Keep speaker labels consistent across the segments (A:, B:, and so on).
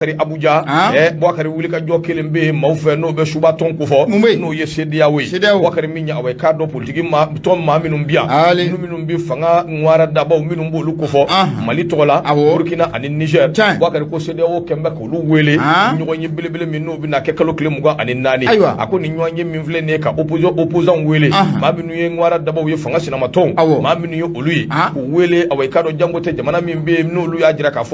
A: kari abuja ah. eh, bɔkari wuli ka jɔ kɛlen bɛ yen maaw fɛ n'o bɛ suba tɔn ko fɔ n'o ye sedeyawo ye bɔkari min ye awa k'a dɔn politiki tɔn maa minnu bi yan minnu minnu bɛ fanga ŋwara dabaw minnu b'olu ko fɔ ah. mali tɔgɔ la burkina ani niger bɔkari ko sedeyawo kɛlen bɛ k'olu wele ah. ɲɔgɔn ye belebele min n'o bɛna kɛ kalo tile mugan ani naani a ko nin ɲɔgɔn ye min filɛ nin ye ka opposant wele maa minnu ye ŋwara dabaw ye fanga sinamatɔnw maa minnu ye olu ye k'u wele awa k'a dɔn janko tɛ jamana min bɛ yen n'olu y'a jira k'a fɔ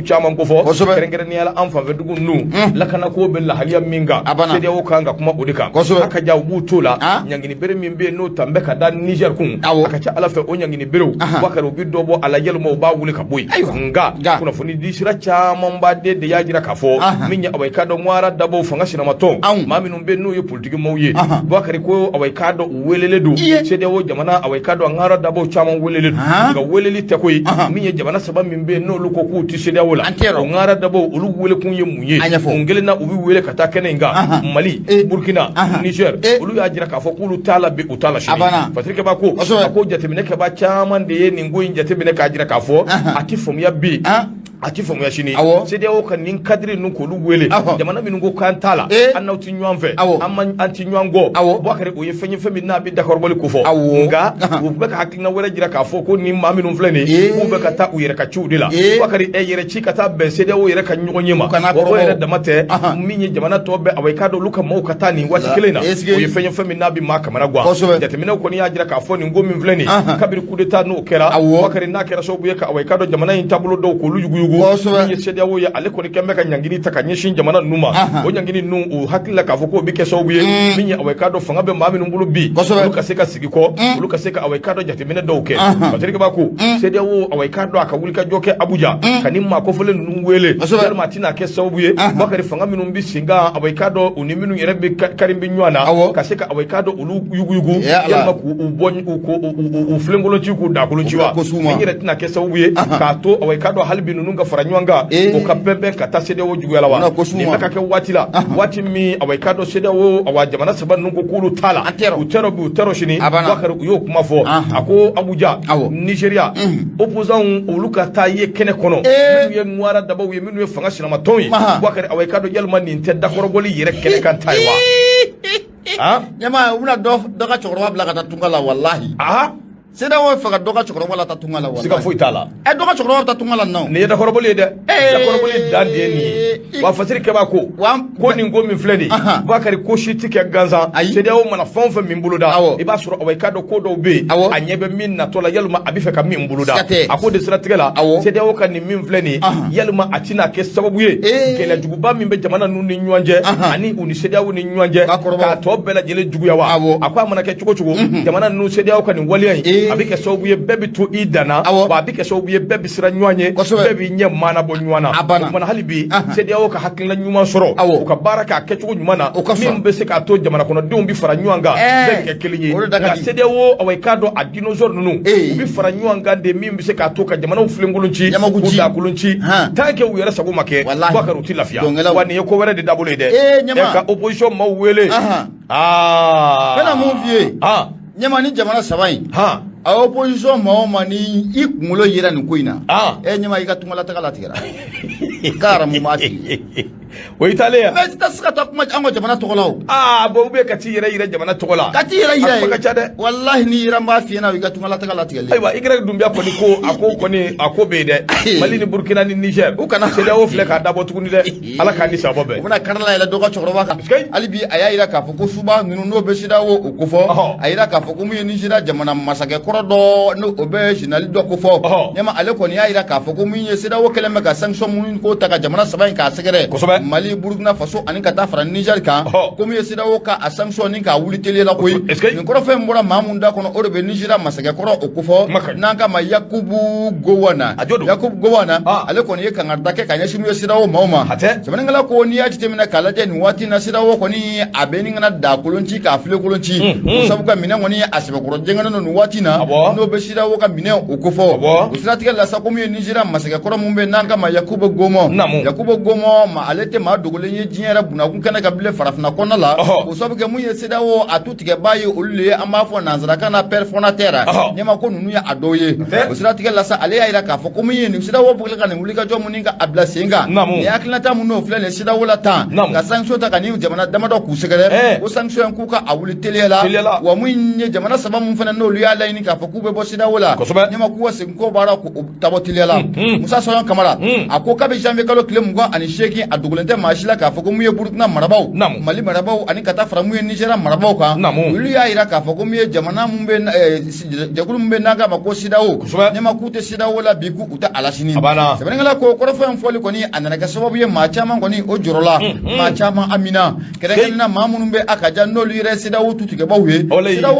A: caman ko fɔ kosɛbɛ kɛrɛnkɛrɛnnenya la an fanfɛ dugu ninnu hmm. lakanako bɛ lahaliya min kan CEDEAO kan ka kuma o de kan kosɛbɛ a ka ja u b'u to la ah. ɲangini bere min bɛ yen n'o talen bɛ ka da Niger kun a ka ca Ala fɛ o ɲangini berew bakari u bɛ dɔ bɔ a la yalima u b'a wuli ka bɔ yen nka kunnafoni di sira camanba de de y'a jira k'a fɔ min ye aw ye k'a dɔn ŋwara dabaw fanga sinamatɔn maa minnu bɛ n'u ye politiki maaw ye bakari ko awa i k'a dɔn u welelen don CEDEAO jamana awa k'a dɔn ŋwara dabaw caman welelen don nka weleli tɛ koyi min ye jamana saba min bɛ n'olu ko k'u tɛ CEDEAO la o ŋwara dabaw olu welekun ye mun ye ɲɛfɔ kelen na u bɛ wele ka taa kɛnɛ in kan mali burukina Niger olu y'a jira k'a fɔ k'olu t'a la u t'a la patiriki b'a ko ko jateminɛkɛba caman de ye nin ko in jateminɛ k'a jira k'a fɔ a tɛ faamuya bi a tɛ faamuya sini awɔ CEDEAO ka nin kadiri ninnu k'olu wele awɔ jamana minnu ko k'an t'a la ee an n'aw tɛ ɲɔgɔn fɛ awɔ an man an tɛ ɲɔgɔn kɔ awɔ Bubakari o ye fɛn ye fɛn min n'a bɛ dakɔrɔbɔli ko fɔ awɔ nka u bɛ ka hakilina wɛrɛ jira k'a fɔ ko nin maa minnu filɛ nin ye k'u bɛ ka taa u yɛrɛ ka ciw de la Bubakari u yɛrɛ ci ka taa bɛn CEDEAO yɛrɛ ka ɲɔgɔn ye ma kana kɔrɔbɔ o yɛrɛ dama tɛ min ye jamana tɔ bɛɛ awɔ i k'a dɔn olu ka maaw ka taa nin waati kelen na o ye fɛn ye fɛn min n'a bɛ maa kamanagan kosɛbɛ jateminɛw kɔni y'a jira k'a fɔ nin ko min filɛ nin ye kabiri kudeta ninnu kɛra bakari n'a kɛra sababu ye ka awa i k'a dɔn jamana in taabolo dɔw k'olu yuguyugu min ye sediyawo ye ale kɔni kɛlen bɛ ka ɲangini ta ka ɲɛsin jamana ninnu ma o ɲangini ninnu u hakili la k'a fɔ k'o bɛ kɛ sababu ye mm. min ye awa i k'a dɔn fanga bɛ maa minnu bolo bi olu ka se ka segin kɔ mm. olu ka se ka awa i k'a dɔn jateminɛ dɔw kɛ patiriki b'a ko mm. sediyawo awa i k'a dɔn a ka wulikajɔ kɛ abuja ka nin maa kofɔlen ninnu wele yalima a tɛna kɛ sababu ye bakari fanga minnu bɛ sen kan awa i k'a dɔn u ni minnu yɛrɛ bakari bɛ ɲɔgɔn na ka se ka awa i k'a dɔn olu yuguyugu yalima k'u bɔ u filenkolon ci k'u dakolo ci wa nin yɛrɛ tɛna kɛ sababu ye k'a to awa i k'a dɔn hali bi ninnu ka fara ɲɔgɔn kan o ka bɛnbɛn ka taa CEDEAO juguya la wa nin bɛ ka kɛ waati la waati min awa i k'a dɔn CEDEAO awa jamana saba ninnu ko k'olu t'a la u t'a rɔ bi u t'a rɔ sini Bubakari u y'o kuma fɔ a ko Abuja Nigeria opposants olu ka taa ye kɛnɛ kɔnɔ minnu ye ŋwara dabaw ye minnu ye fanga sinamatɔnw ye Bubakari awa i k'a dɔn yalima nin tɛ dakɔrɔbɔli yɛrɛ kɛnɛ kan ta ye wa ɲɛma u bɛna dɔ ka cɛkɔrɔba bila ka taa tunga la walahi sɛdɛyawo fɛ ka dɔ ka cɛkɔrɔba lataa tunga la walahi siga foyi t'a la ɛ dɔ ka cɛkɔrɔba taa tunga la nɔ nin ye dakɔrɔbɔli ye dɛ dakɔrɔbɔli dan de ye nin ye wa fasiri kɛba ko ko nin ko min filɛ nin Bakari ko si tɛ kɛ gansan sɛdɛyawo mana fɛn o fɛn min boloda i b'a sɔrɔ awa i k'a dɔn ko dɔw bɛ yen a ɲɛ bɛ min natɔ la yalima a bɛ fɛ ka min boloda a ko de siratigɛ la sɛdɛyawo ka nin min filɛ nin ye yalima a tɛna kɛ sababu ye gɛlɛya ba min bɛ jamana ninnu ni ɲɔgɔn cɛ ani u ni sɛdɛyawo ni ɲɔgɔn cɛ k'a tɔ bɛɛ lajɛlen juguya wa a ko a mana kɛ cogo cogo jamana ninnu sɛdɛyawo ka nin waleya in a bɛ kɛ sababu ye bɛɛ bɛ to i dan na a bɛ kɛ sababu ye bɛɛ bɛ siran ɲɔgɔn ye bɛɛ bɛ ɲɛ mana bɔ ɲɔgɔn na a hali bi sɛdɛyawo ka hakilila ɲuman sɔrɔ u ka baara k'a kɛ cogo ɲuman na min bɛ se k'a to jamana kɔnɔdenw bɛ fara ɲɔgɔn kan bɛɛ bɛ kɛ kelen ye sɛdɛyawo aw k'a dɔn dinosaure ninnu u bɛ fara ɲɔgɔn kan de min bɛ se k'a to ka jamanaw filenkolon ci k'u dakolon ci tant que u yɛrɛ sago ma kɛ Bubakari u tɛ lafiya wa nin ye ko wɛrɛ de dabɔlen ye dɛ ɛ ka opposition maaw wele aa n bɛna mun f'i ye ɲɛma ni jamana saba in a opposition maa o maa ni i kunkolo yera nin ko in na ɛ ɲɛma i ka tungalataga latigɛra k'a aramu m'a tigi o i taalen yan maa si tɛ se ka taa kuma an ka jamana tɔgɔ la o aa bɔn u bɛ ka t'i yɛrɛ yira jamana tɔgɔ la ka t'i yɛrɛ yira a kuma ka ca dɛ walahi n'i yira n b'a f'i ɲɛna o y'i ka tungalataga latigɛlen ayiwa i kɛra dunbiya kɔni ko a ko kɔni a ko bɛ yen dɛ mali ni burukina ni nizɛr u kana sɛdɛyawo filɛ k'a dabɔ tuguni dɛ ala k'a ni saba bɛɛ u bɛna karila yɛlɛ dɔ ka cɛkɔrɔba kan hali bi a y'a yira k'a fɔ U ko suba ninnu n'o bɛ sɛdɛyawo o kofɔ a jira k'a fɔ ko min ye nizeriya jamana masakɛ kɔrɔ dɔ n' o bɛ zenerali dɔ kofɔ ɲa ale kɔni y'a jira k'a fɔ ko min ye sɛdɛyawo kɛlen bɛ ka sanction minnu ko ta ka jamana saba in k'a sɛgɛrɛ mali burukina faso ani ka taa fara nizɛri kan ko min ye sɛdɛyawo ka a sanction nin k'a wuli teliya la koyi nin kɔrɔfɔ in bɔra maa min da kɔnɔ o de bɛ nizeriya masakɛ kɔrɔ o kofɔ n'an k'a ma yakubu gowɔn yakubu gowɔn ale kɔni ye kankarida kɛ ka ɲɛsin min ye sɛdɛyawo maaw ma sɛbɛnnikɛla ko n'i y'a jateminɛ k'a lajɛ nin waati na sɛdɛyawo kɔni a bɛ ɲini ka n'a dakolon ci k'a filenkolon ci ko sabu kɛ minɛn kɔni a sɛbɛkɔrɔ jɛngɛnen don nin waati na n'o bɛ sɛdɛyawo ka minɛn o kofɔ o siratigɛ la sa ko min ye nizeriya masakɛ kɔrɔ min bɛ n'an k'a ma yakuba gowɔn yakuba gowɔn ma ale tɛ maa dogolen ye diɲɛ yɛrɛ bunakun kɛnɛ kan bilen farafinna kɔnɔna la ko sabu kɛ min ye sɛdɛyawo a tigɛba ye olu de ye an b'a fɔ nansarakan na père fondateur ɲɛma ko ninnu ye a dɔw ye o siratigɛ la sa ale y'a jira k'a fɔ ko min ye nin sɛdɛyawo bɛ ka nin wulikajɔ minnu ka a bila sen kan ni hakilinata minnu filɛ nin sɛdɛyawo la tan ka sanction ta ka nin jamana damadɔ k'u sɛgɛrɛ ko sanction in k'u ka a wuli teliya la wa min ye jamana saba min fana n'olu y'a laɲini k'a fɔ k'u bɛ bɔ sɛdɛyawo la ɲɛma k'u ka segin kɔ bari Tabtiliyala musa sɔn kamara a ko kabi janvier kalo tile mugan ani seegin a dogolen tɛ maa si la k'a fɔ ko mun ye burukina marabagaw mali marabagaw ani ka taa fara mun ye niger marabagaw kan olu y'a yira k'a fɔ ko mun ye jamana jɛkulu mun bɛ n'an k'a ma ko CEDEAO ɲɛma k'u tɛ CEDEAO la bi k'u tɛ a la sini sɛbɛnkɛla ko kɔrɔfɔ in fɔli kɔni a nana kɛ sababu ye maa caman kɔni o jɔrɔla maa caman hamina kɛrɛnkɛrɛnnenya la maa minnu bɛ a ka jan n'olu yɛrɛ CEDEAO tutigɛbaw ye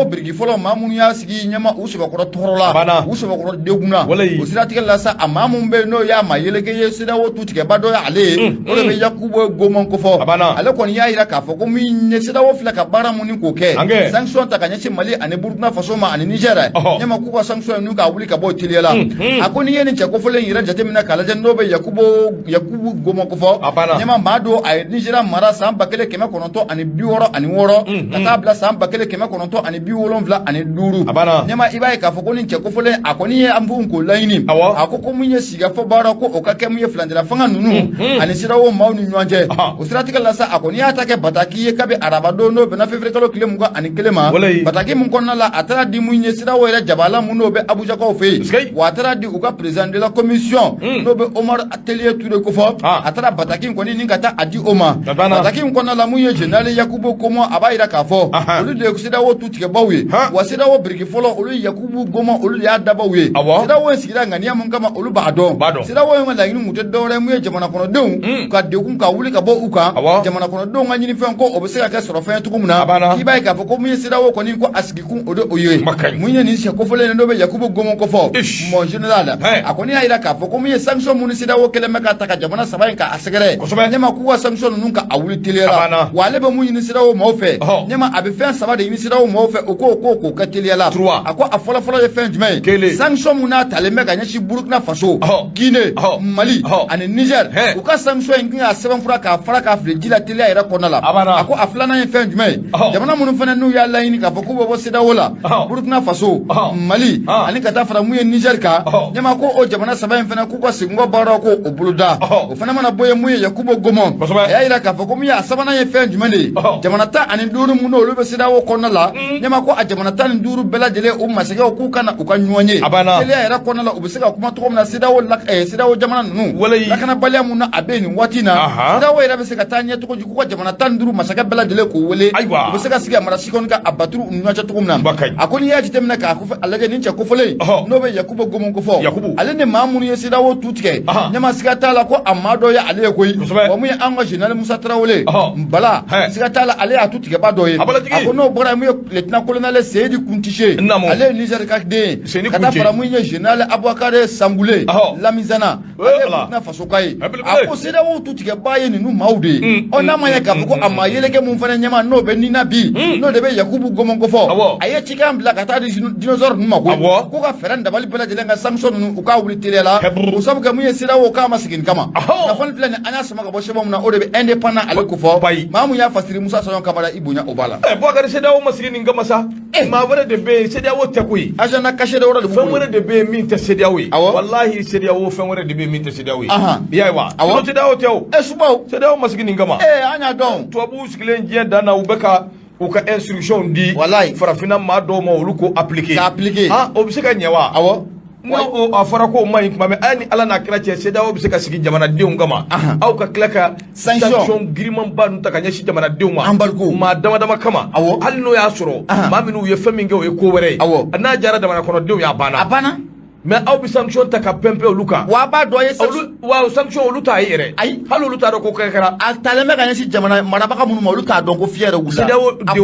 A: biriki fɔlɔ maa minnu K'i ɲɛma u sɛbɛkɔrɔ tɔɔrɔla a banna u sɛbɛkɔrɔ degunna walahi o siratigɛ la sa a maa mun bɛ yen n'o y'a maa yeleke ye CEDEAO tutigɛba dɔ ye ale ye unhun o de bɛ Yakubu Gowon kofɔ a banna ale kɔni y'a yira k'a fɔ ko min ye CEDEAO filɛ ka baara mun ni k'o kɛ ankɛɛ sanction ta ka ɲɛsin Mali ani Burkina Faso ma ani Niger ɔhɔ ɲɛma k'u ka sanction ninnu k'a wuli ka bɔ yen teliya la unhun a ko n'i ye nin cɛ kofɔlen in yɛrɛ jateminɛ k'a lajɛ n'o bɛ Yakuboo Yakubu Gowon kofɔ a banna ɲɛma maa don a ye Nigeria mara san 1966 unhun ka taa bila san 1900 tɔ ani bi wolonwula ani duuru a banna ɲɛma i b'a ye k'a fɔ ko nin cɛ kofɔlen a kɔni ye an b'u ko laɲini awɔ a ko ko mun ye sigikafɔ baara ko o ka kɛ mun ye furancɛla fanga ninnu ani CEDEAO maaw ni ɲɔgɔn cɛ o siratigɛ la sa a kɔni y'a ta kɛ bataki ye kabi araba don n'o bɛnna février kalo tile mugan ani kelen ma bataki min kɔnɔna la a taara di mun ye CEDEAO yɛrɛ jabala mun n'o bɛ abujakaw fɛ yen wa a taara di u ka président de la commission n'o bɛ omar alieu touray kofɔ ah. a taara bataki in kɔni ni ka taa a di o ma bataki in kɔnɔna la mun ye général yakubu gowon a b'a yira k'a fɔ olu de ye CEDEAO tutigɛbaaw ye wa CEDEAO biriki fɔlɔ olu ye yakubu gowon olu de y'a dabaw ye CEDEAO in sigira ŋaniya mun kama olu b'a dɔn CEDEAO in ka laɲini kun tɛ dɔwɛrɛ mun ye jamana kɔnɔdenw hmm. ka degun ka wuli ka bɔ u kan jamana kɔnɔdenw ka ɲinifɛn ko o bɛ se ka kɛ sɔrɔfɛn cogo min na k'i b'a ye k'a fɔ ko mun ye CEDEAO kɔni ko a sigi kun o de o ye Makan ye. mun ye nin cɛ kofɔlen ye n'o bɛ yakubu gowon kofɔ Ish. mon general Hey. a kɔni y'a yira k'a fɔ ko mun ye sanction minnu CEDEAO kɛlen bɛ ka ta ka jamana saba in ka a sɛgɛrɛ Kosɛbɛ. ɲɛma k'u ka sanction ninnu ka a wuli A banna. teliya la wa ale bɛ mun ɲini CEDEAO maaw fɛ Ɔhɔ. ɲɛma a bɛ fɛn saba de ɲini CEDEAO maaw fɛ o k'o k'o k'o kɛ teliya la Trois. a ko a fɔlɔfɔlɔ ye fɛn jumɛn ye Kelen. sanction minnu n'a talen bɛ ka ɲɛsin burukina faso Ɔhɔ. guinee Ɔhɔ. mali Ɔhɔ. ani niger Hey. u ka sanction in kan ka sɛbɛnfura k'a fara k'a fili ji la teliya yɛrɛ kɔnɔna la Abada. a ko a filanan ye fɛn jumɛn ye Ɔhɔ. jamana minnu fana n'u y'a laɲini k'a fɔ k'u bɛ bɔ CEDEAO la Ɔhɔ. burukina faso Ɔhɔ. mali Ɔhɔ. ani ka taa fara mun ye nizɛri kan Ɔhɔ. ɲɛma ko o jamana saba in fana k'u ka seginkɔ baaraw ko o boloda Ɔhɔ. o fana mana bɔ yen mun ye yakubu gowon Kosɛbɛ. a y'a yira k'a fɔ ko min ye a sabanan ye fɛn jumɛn de ye Ɔhɔ. jamana tan ani duuru minnu olu bɛ CEDEAO kɔnɔna la ɲɛma ko a jamana tan ni duuru bɛɛ lajɛlen u masakɛw k'u ka na u ka ɲɔgɔn ye Abada. teliya yɛrɛ kɔnɔna la u bɛ se ka kuma cogo min na CEDEAO eh, CEDEAO jamana ninnu lakanabaliya mun n'a bɛ nin waati in na CEDEAO yɛrɛ bɛ se ka taa ɲɛ cogo di k'u ka jamana tan ni duuru masakɛ bɛɛ lajɛlen k'u wele u bɛ se ka sigi a mara sikɔni ka a baturu ni ɲɔgɔn cɛ cogo min na a ko n'i y'a jateminɛ k'a ko a lajɛ nin cɛ kofɔlen n'o bɛ Yakubu Gowon kofɔ ale ni maa minnu ye CEDEAO tu tigɛ ɲɛma siga t'a la ko a maa dɔ ye ale ye koyi wa mun ye an ka général Musa Tarawele Bala siga t'a la ale y'a tutigɛba dɔ ye a ko n'o bɔra yen mun ye lieutenant colonel Seyni Kountché ale ye Niger ka den ye Seni ka taa Kuncɛ. fara mun ye général Aboubacar Sangoulé Ɔhɔ. Lamizana Ee, ale ye ala. Burkina Faso ka ye Abelebele. a ko CEDEAO tutigɛbaa ye ninnu maaw de ye Mm, ɔ n'a ma ɲɛ k'a fɔ ko a maa yeleke mun fana ɲɛnama n'o bɛ ni na bi n'o de bɛ Yakubu Gowon kofɔ Awɔ. a ye cikan bila ka taa di dino- dinosaure ninnu ma koyi Awɔ. ko ka fɛɛrɛ ni dabali bɛɛ lajɛlen kɛ sanction ninnu u k'a wuli teliya la Heburu. o sabu kɛ mun ye CEDEAO k'a ma sigi nin kama Ɔhɔ. kunnafoni filɛ nin an y'a sama ka bɔ sɛbɛn min na o de bɛ indépendant ale kofɔ bayi. maa mun y'a fasiri Musa Sayɔn Kamara i bonya o b'a la Ɛ Boubacar CEDEAO ma sigi nin kama sa. Eh. maa wɛrɛ de bɛ yen CEDEAO tɛ koyi agenda caché dɔ wɛrɛ de b'u bolo fɛn wɛrɛ de bɛ yen min tɛ CEDEAO ye awɔ walahi CEDEAO fɛn wɛrɛ de bɛ yen min tɛ CEDEAO ye ahan i y'a ye wa awɔ sinon CEDEAO tɛ o ɛ eh, subaw CEDEAO ma sigi nin kama ee eh, an y'a dɔn tubabuw sigilen diɲɛ dan na u bɛ ka u ka instructions di walayi farafinna maa dɔw ma olu k'o appliquer k'a appliquer han o bɛ se ka ɲɛ wa awɔ N a fɔra ko ma ɲi tuma min aw ni ala n'a kira cɛ CEDEAO bɛ se ka sigi jamanadenw kama aw ka tila ka sanction girinmanba ta ka ɲɛsin jamanadenw ma an maa dama dama kama hali n'o y'a sɔrɔ maa minnuu ye fɛn min kɛ o ye ko wɛrɛ ye aw n'a diyara jamana kɔnɔdenw y'a banna a banna mais aw bɛ sanction ta ka pɛnpɛ olu kan wa b'a dɔn ye wa sanction olu t'a ye yɛrɛ ayi hali olu t'a dɔn ko kɛ kɛra a taalen bɛ ka ɲɛsin jamana marabaga minnu ma olu t'a dɔn ko fi yɛrɛ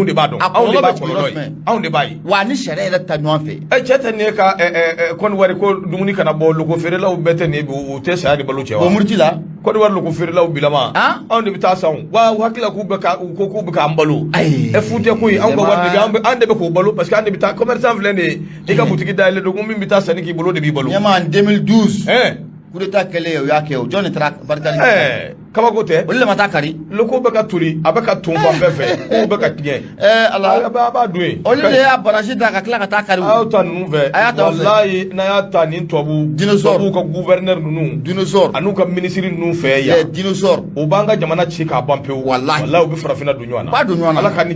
A: de b'a dɔn anw de b'a anw de b'a ye Wa ni sariya yɛrɛ ta ɲɔgɔn fɛ ɛ cɛ tɛ ne ka Kɔdiwari ko dumuni kana bɔ loko feerelaw bɛɛ tɛ nin u tɛ saya ni balo cɛ o murutila Kɔdiwari loko feerelaw bilama anw de bɛ taa san wa u hakili la k'u bɛ k'an balo ayi e fu tɛ koyi anw an de bɛ k'u balo parce que an de bɛ taa commerçant filɛ nin e ka butigi da yɛlɛ don min bɛ taa sanni k'i bolo de b'i balo mais en deux mille douze coup d'État kɛlen aw y'a kɛ o jɔn nin taara barika kabako tɛ olu le ma taa kari loko bɛ ka toli a bɛ ka ton fan bɛɛ fɛ ku bɛ ka tiɲɛ ɛɛ ala a b'a b'a dun yen olu de y'a barasi da ka tila ka taa kari a y'a ta ninnu fɛ a y'a ta walayi n'a y'a ta ni tubabu dinosɔr tubabu ka gouverneur ninnu dinosɔr an'u ka minisiri ninnu fɛ yan dinosɔr o b'an ka jamana ci k'a ban pewu walayi walayi u bɛ farafinna don ɲɔgɔn na b'a don ɲɔgɔn na ala ka ni